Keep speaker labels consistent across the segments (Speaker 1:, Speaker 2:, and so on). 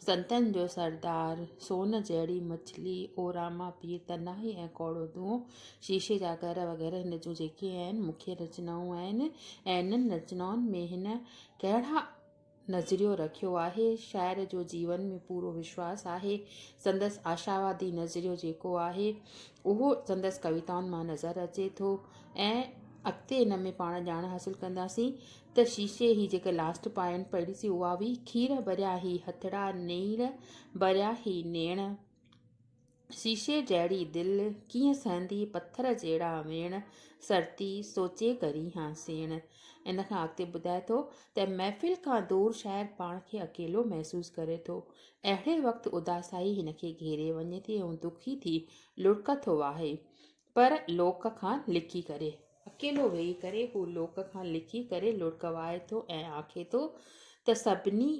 Speaker 1: سنتن جو سردار، سون جهڙي مڇلي، او راما پير تنهائي ۽ ڪوڙو دونهون، شيشي جا گهر وغيره هن جون جيڪي اهن مکيه رچنائون آهن ۽ انهن رچنائن ۾ هن ڪهڙا نظريو رکيو آهي، شاعر جو جيون ۾ پورو وشواس آهي، سندس آشاوادي نظريو جيڪو آهي اهو سندس ڪويتائن مان نظر اچي ٿو ۽ اڳتي ان ۾ پاڻ ڄاڻ حاصل ڪنداسين. ته شيشي هي جيڪي لاسٽ پائين پڙهي سي اها هئي کير ڀريا هي هٿڙا نيڻ ڀريا هي نيڻ شيشي جهڙي دل ڪيئن سهندي پٿر جهڙا ويڻ سرتي سوچي ڪرين ها سيڻ ان کان اڳتي ٻڌائي ٿو ته محفل کان دور شاعر پاڻ کي اڪيلو محسوس ڪري ٿو اهڙي وقت اداسائي هن کي گهيري وڃي ٿي ۽ دکي ٿي لڙڪ ٿو واهي پر لوڪ کان لڪي ڪري. اڪيلو ويهي ڪري هو لوڪ کان لڪي ڪري لڙڪ وهائي ٿو ۽ آکي ٿو ته سڀني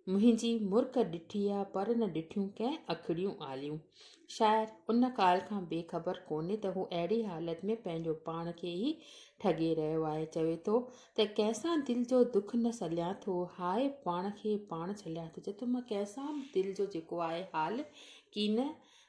Speaker 1: منهنجي مرڪ ڏٺي آ پر نه ڏٺيون ڪنهن اکڙيون آليون. شاعر ان ڳالهه کان بي خبر ڪونهي ته هو اهڙي حالت ۾ پنهنجو پاڻ کي ئي ٺڳي رهيو آهي. چوي ٿو ته ڪنهن سان دل جو دک نه سليان ٿو هاء پاڻ کي پاڻ ڇليان ٿو. چوي ٿو مان ڪنهن سان به دل جو جيڪو آهي حال ڪين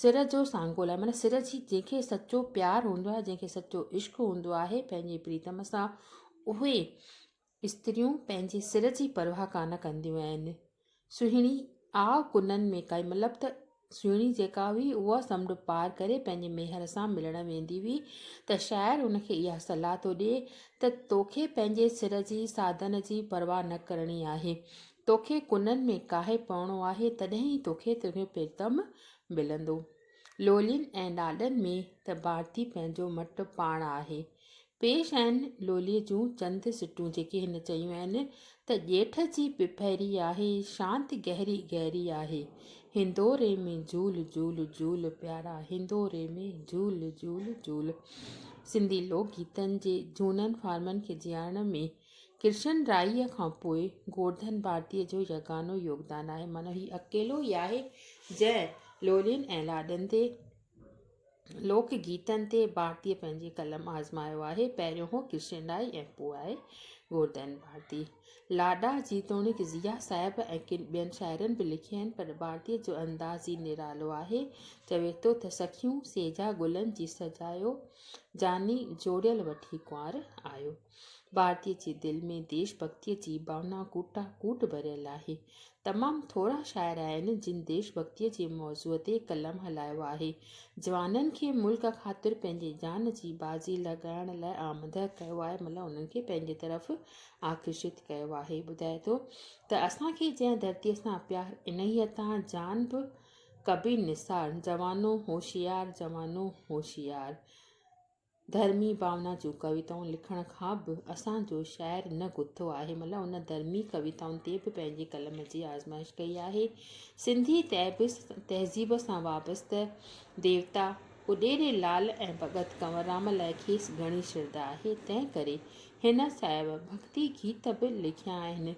Speaker 1: سر جو سانگو لاء معنيٰ سر جي جنهن کي سچو پيار هوندو آهي جنهن کي سچو عشق هوندو آهي پنهنجي پريتم سان اهي استريون پنهنجي سر جي پرواهه ڪانه ڪنديون آهن سهڻي آء ڪنن ۾ ڪائي مطلب ته سهڻي جيڪا هئي اها سمنڊ پار ڪري پنهنجي ميهر سان ملڻ ويندي هئي ته شاعر ان کي اها صلاح ٿو ڏي ته توکي پنهنجي سر جي ساڌن جي پرواهه نه ڪرڻي آهي توکي ڪنن ۾ ڪاهي پوڻو آهي، تڏهن ئي توکي تنهنجو پريتم ملندو. لولين ۽ لاڏن ۾ ته ڀارتي پنهنجو مٽ پاڻ آهي. پيش آهن لوليء جون چند سٽون جيڪي هن چيون آهن ته ڄيٺ جي پڦيري آهي، شانت گهري گهري آهي، هندوري ۾ جهول جهول جهول پيارا، هندوري ۾ جهول جهول جهول. سنڌي لوڪ گيتن جي جهونن فارمن کي جيارڻ ۾ ڪرشن رائيء کان پوء گورڌن ڀارتيء جو يگانو يوگدان آهي. معنيٰ هي اڪيلو ئي آهي، جنهن لولين ۽ لاڏن تي، لوڪ گيتن تي، ڀارتيء پنهنجي قلم آزمايو آهي. پهريون هو ڪرشن رائي ۽ پوء آهي گورڌن ڀارتي. لاڏا جيتوڻيڪ ضيا صاحب ۽ ڪن ٻين شاعرن به لکيا آهن، پر ڀارتيء جو انداز ئي نرالو آهي. چوي ٿو ته سخيون سيجا گلن جي سجايو، جاني جوڙيل وٺي ڪنوار آيو. ڀارتي جي دل ۾ ديش ڀڳتيء جي ڀاونا ڪوٽان ڪوٽ ڀريل آهي. تمام ٿورا شاعر آهن، جن ديش ڀڳتيء جي موضوع تي قلم هلايو آهي. جوانن کي ملڪ خاطر پنهنجي جان جي بازي لڳائڻ لاء آمده ڪيو آهي مطلب انهن کي پنهنجي طرف آڪرشت ڪيو آهي. ٻڌائي ٿو ته اسان کي جنهن ڌرتيء سان پيار انهيء تان جان به ڪبي نثار جوانو هوشيار جوانو هوشيار ڌرمي ڀاونا جون ڪويتائون لکڻ کان به اسان جو شاعر نه گٿو آهي ملا ان ڌرمي ڪويتائن تي به پنهنجي قلم جي آزمائش ڪئي آهي سنڌي تهذيب سان وابسته ديوتا اڏيري لال ۽ ڀڳت ڪنوررام لاء کيس گهڻي شرڌا آهي تنهن ڪري هن صاحب ڀڳتي گيت به لکيا آهن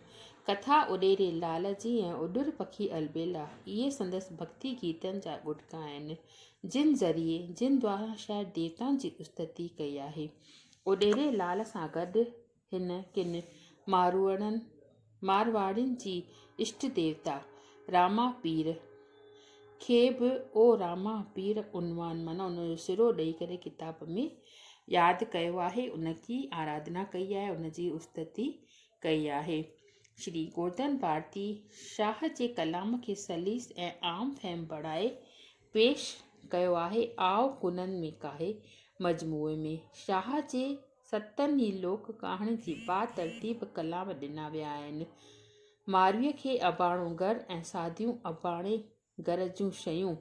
Speaker 1: ڪٿا اڏيري لال جي ۽ اڏر پکي البيلا اهي سندس ڀڳتي گيتن جا ڳوٽڪا آهن جن ذريعي جن دواران شايد ديوتائن جي استتي ڪئي آهي. اوڏيري لال سان گڏ هن ڪن ماروئڙن، مارواڙين جي اشٽ ديوتا راما پير کي به او راما پير عنوان معنيٰ ان جو سرو ڏئي ڪري ڪتاب ۾ ياد ڪيو آهي، ان جي آراڌنا ڪئي آهي، ان جي استتي ڪئي آهي. شري گوردن ڀارتي شاهه جي ڪلام کي سليس ۽ عام فهم بڻائي پيش ڪيو آهي. آء ڪنن ۾ ڪاهي مجموعي ۾ شاهه جي ستن ئي لوڪ ڪهاڻين جي با ترتيب ڪلام ڏنا ويا آهن. مارويء کي اباڻو گهر ۽ ساديون اباڻي گهر جون شيون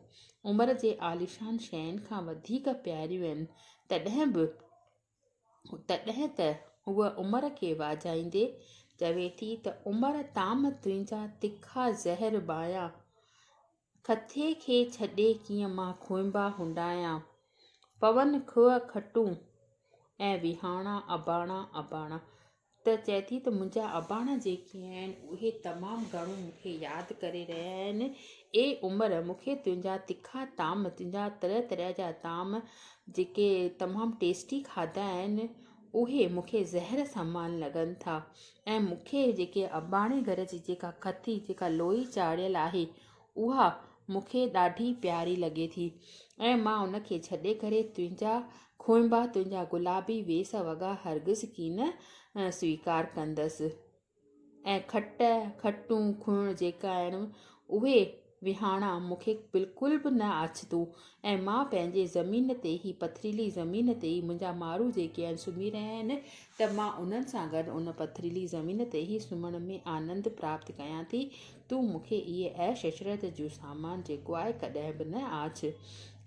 Speaker 1: عمر جي عاليشان شين کان وڌيڪ پياريون آهن، تڏهن به تڏهن ته هوء عمر کي واجهائيندي چوي ٿي ته عمر طعام تنهنجا تکا زهر ٻايان، کٿي کي ڇڏي ڪيئن مان کونبا هنڊايان، پون کوهه کٽون ۽ وهاڻا اباڻا اباڻا. ته چئي ٿي ته منهنجا اباڻا جيڪي آهن، اهي تمام گهڻو مون کي ياد ڪري رهيا آهن. اي عمر! مون کي تنهنجا تکا طعام، تنهنجا طرح طرح جا طعام جيڪي تمام ٽيسٽي کاڌا آهن، اهي مون کي زهر سمان لڳن ٿا ۽ مون کي جيڪي اباڻي گهر جي جيڪا کٿي، جيڪا لوئي چاڙهيل آهي، اها مون کي ڏاڍي پياري لڳي ٿي ۽ مان ان کي ڇڏي ڪري تنهنجا کونبا، تنهنجا گلابي ويس وڳا هرگز ڪين سويڪار ڪندس ۽ کٽ، کٽون، کڻ جيڪي آهن اهي وهاڻا مون کي بلڪل به نه آڇتون ۽ مان پنهنجي زمين تي هي پٿريلي زمين تي ئي منهنجا مارو جيڪي آهن سمهي رهيا آهن ته مان انهن سان گڏ ان پٿريلي زمين تي ئي سمهڻ ۾ آنند پراپت ڪيان ٿي. تون مون کي اهي عيش عشرت جون سامان جيڪو آء ڪڏهن به نه آڇ.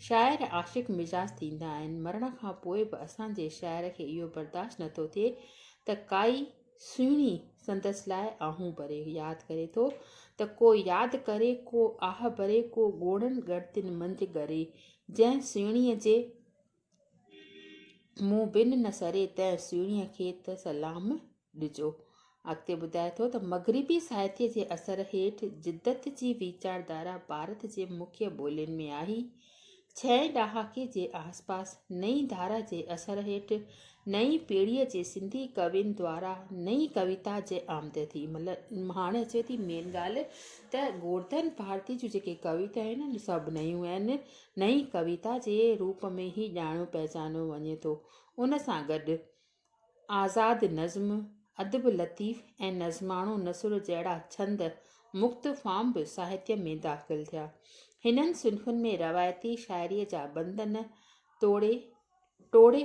Speaker 1: شاعر عاشق مزاج ٿيندا آهن، مرڻ کان پوء به اسان جي شاعر کي اهو برداشت نه ٿو ٿئي ته ڪائي سهڻي سندس لاء آهون ڀري ياد ڪري ٿو ته ڪو ياد ڪري ڪو آهه ڀري ڪو ڳوڙهن ڳڻتين منجهه ڳري جنهن سهڻيء جي مون بن نه سري تنهن سهڻيء کي ته سلام ڏجو. اڳتي ٻڌائي ٿو ته مغربي ساهتيه جي اثر هيٺ جدت جي ويچاردارا ڀارت جي مکيه ٻولين ۾ آئي. ڇهين ڏهاڪي جي آسپاس نئين ڌارا جي اثر هيٺ نئين پيڙهيء جي سنڌي ڪوين دوارا نئين ڪويتا جي آمد ٿي. مطلب هاڻي اچي ٿي مين ڳالهه ته گورڌن ڀارتي جون جيڪي ڪويتائون آهن سڀ نيون آهن. نئين ڪويتا جي روپ ۾ هي ڄاڻيو پهچانيو وڃي ٿو. ان سان گڏ آزاد نظم، ادب لطيف ۽ نظماڻو نثر جهڙا ڇند مڪت فارم به ساهتيه ۾ داخل ٿيا. هنن صنفن ۾ روايتي شاعريء جا بندن ٽوڙي، ٽوڙي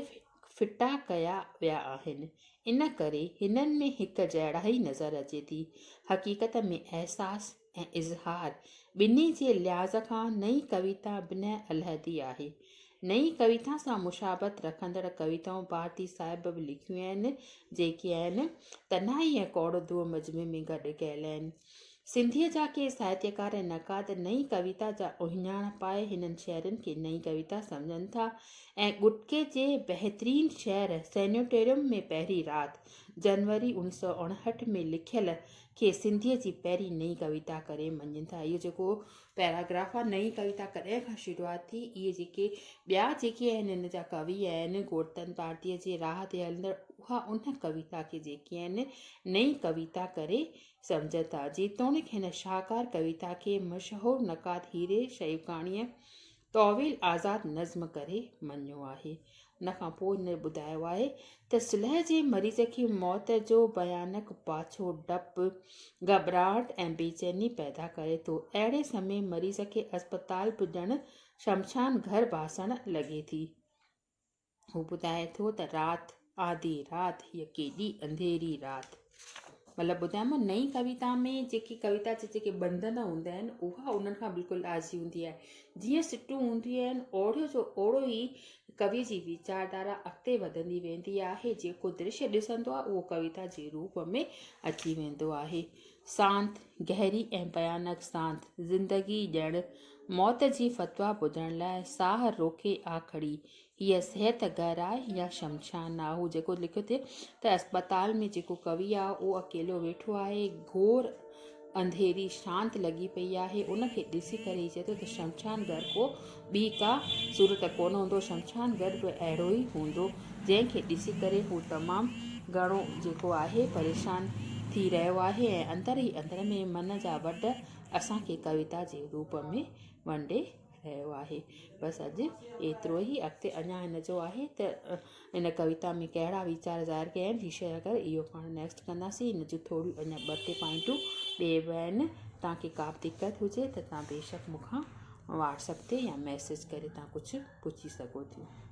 Speaker 1: ڦٽا ڪيا ويا آهن، ان ڪري هنن ۾ هڪ جهڙائي نظر اچي ٿي. حقيقت ۾ احساس ۽ اظهار ٻنهي جي لحاظ کان نئين ڪويتا بنهه علحدي آهي. نئين ڪويتا سان مشابهت رکندڙ ڪويتائون ڀارتي صاحب به لکيون آهن، جيڪي آهن، تنهائي ۽ ڪوڙ دو مجمع ۾ گڏ ڪيل آهن. سنڌيء جا ڪي ساهتيڪار ۽ نقاد نئين ڪويتا جا اهڃاڻ پائي هنن شعرن کي نئين ڪويتا سمجهن ٿا ۽ ڳٽڪي جي بهترين شعر سينيٽوريم ۾ پهرين رات، جنوري اوڻيھ سؤ اڻهٺ، ۾ لکيل کي سنڌيء جي پهرين نئين ڪويتا ڪري مڃين ٿا. اهو جيڪو پيراگراف آهي، نئين ڪويتا ڪڏهن کان شروعات ٿي، اهي جيڪي ٻيا جيڪي آهن هن جا ڪوي آهن، گورتن پارٽيء جي راهه تي هلندڙ اها ان ڪويتا کي جيڪي آهن نئين ڪويتا ڪري سمجهن ٿا. جيتوڻيڪ هن شاهڪار ڪويتا کي مشهور نقاد هيري شيوڪاڻيء طويل آزاد نظم ڪري مڃيو آهي. ان کان پوء هن ٻڌايو آهي ته صلح جي مريض کي موت جو ڀيانڪ پاڇو ڊپ، گهٻراهٽ ۽ بيچيني پيدا ڪري ٿو. اهڙي سمي مريض کي اسپتال به ڄڻ شمشان گهر ڀاسڻ لڳي ٿي. هو ٻڌائي ٿو ته رات، آڌي رات، هيء ڪيڏي انڌيري رات. مطلب ٻڌايم نه نئين ڪويتا ۾ جيڪي ڪويتا جا جيڪي بندن هوندا آهن اها انهن کان بلڪل آجي هوندي آهي. جيئن سٽون هونديون آهن اوڙيو جو اوڙو ئي ڪويء جي ويچار ڌارا اڳتي وڌندي ويندي آهي. جيڪو درشي ڏسندو آهي اهو ڪويتا جي روپ ۾ اچي ويندو آهي. سانت، گهري ۽ ڀيانڪ سانت، زندگي ڄڻ موت جي فتويٰ ٻڌڻ لاء ساهه روڪي آ کڙي. هيء صحت گهر آهي يا شمشان آهي. هو جيڪو لکيو ٿي ته اسپتال ۾ جيڪو ڪوي آهي، اهو اڪيلو ويٺو آهي. گهور انڌيري شانت لڳي پئي آهي. ان کي ڏسي ڪري هي چئي ٿو ته شمشان گهر ڪو ٻي ڪا صورت ڪونه هوندو. شمشان گهر به اهڙو ئي هوندو. جنهن کي ڏسي ڪري هو تمام گهڻو جيڪو آهي پريشان ٿي رهيو آهي ۽ اندر ئي اندر ۾ من جا وڍ اسان کي ڪويتا جي روپ ۾ ونڊي رهيو آهي. بس اڄ ايترو ئي اڳتي اڃا هن جو آهي ته ان ڪويتا ۾ ڪهڙا ويچار ظاهر ڪيا آهن جي شيئر ڪيو اهو پاڻ نيڪسٽ ڪنداسين هن جون ٿوريون اڃا ٻه ٽي پوائنٽون ٻيئي به آهن توهان کي ڪا به دقت هجي ته توهان بيشڪ مون کان واٽسپ تي يا ميسيج ڪري توهان ڪجهه پڇي سگهو ٿيون.